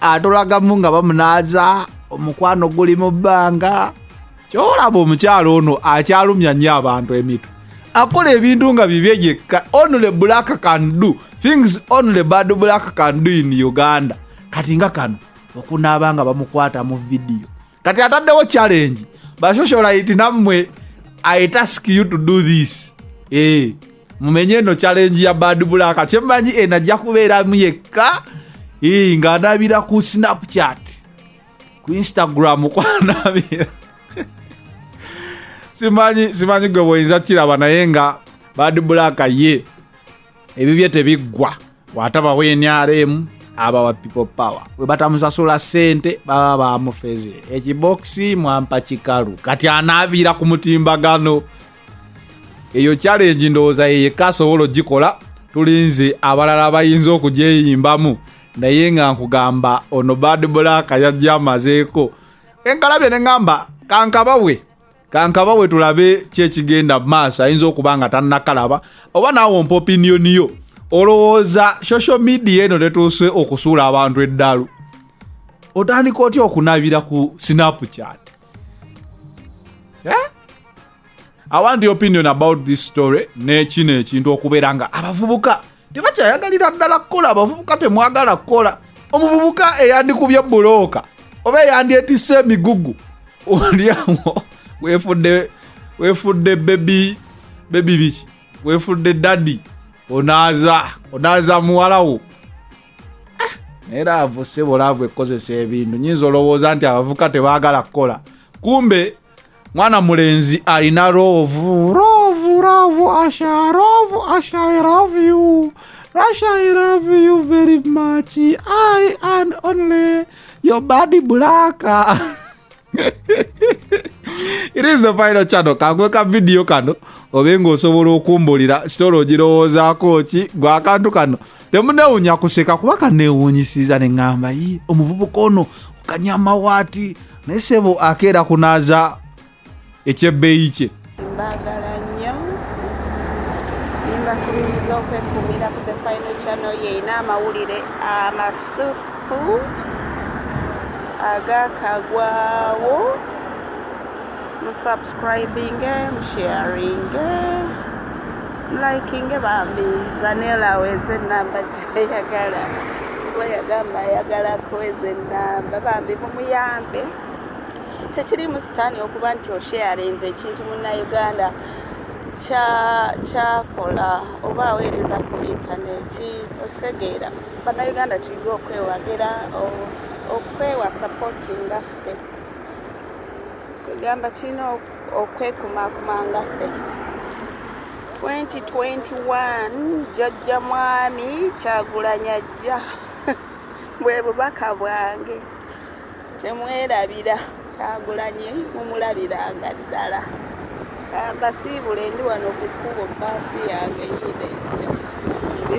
atolagamu nga bamunaaza omukwano guli mu bbanga kyolaba omukyalo ono akyalumya nnyo abantu emitu akola ebintu nga bibye yekka only black can do things only bad black can do in uganda kati nga kano okunaaba nga bamukwata mu vidiyo kati ataddewo challenge bashosholaiti nammwe i task you to do this e mumenye eno challenge ya bad black kyemmanyi eno eh, ajja kubeeramu yekka eh, ng'anaabira ku snapchat ku instagram kwanaabira simanyi simanyi gwe bwoyinza kiraba naye nga bad black ye ebibye tebiggwa watabawo nrm abawa people power webatamusasula sente baba bamufeze ekibokisi mwampa kikalu kati anaabira ku mutimbagano eyo challenge ndowooza yeyeka asobola ogikola tulinze abalala bayinza okugyeyimbamu naye nga nkugamba ono bad black yajja amazeeko enkalabye ne ŋamba kankabawe kankaba we tulabe ki ekigenda mu maaso ayinza okuba nga tannakalaba oba naawe ompa opiniyoni yo olowooza social media eno tetuuse okusuula abantu eddalu otandika otya okunabira ku snapchat eh? i want the opinion about this story nekino ekintu okubeera nga abavubuka tebakyayagalira ddala kukola abavubuka temwagala kukola omuvubuka eyandikubye bulooka oba eyandyetise emigugu olyawo wefudde wefudde bebi bebi biki wefudde dadi onaaza onaaza muwalawo ah, naye laavu sebo laavu ekozesa ebintu nyinza olowooza nti abavuka tebaagala kukola kumbe mwana mulenzi alina rovu rovu rovu asha rovu asha i love you russia i love you very much i and only your body black it is the final channel kangwe ka video kano obe nga osobola okumbulira sitola ogirowoozaako ki gwe akantu kano nemunewunya kuseka kuba kanewunyisiza neŋamba yi omuvubuka ono kanyama waati naye sebo akeera kunaaza ekyebbeeyi kye mbagala nnyo nimbakubiriza okwekumira ku the final channel yeina amawulire amasufu agakagwawo musab Subscribinge, msharinge, mlikinge bambi zanela aweze enamba gyeyagala kuba yagamba ayagala kuweza enamba bambi mumuyambe tekirimu sitaani okuba nti osharinze ekintu munnauganda kyakola oba aweereza ku intaneti okitegeera bannayuganda tuyige okwewagira okwewa sapoti ngaffe kwegamba tulina okwekumakuma nga ffe 2021 jajja mwami kyagulanya jja bwe bubaka bwange temwerabira kyagulanye mumulabiranga ddala kambasiibule ndi wano ku kkubo baasi yange yiina ejja sibe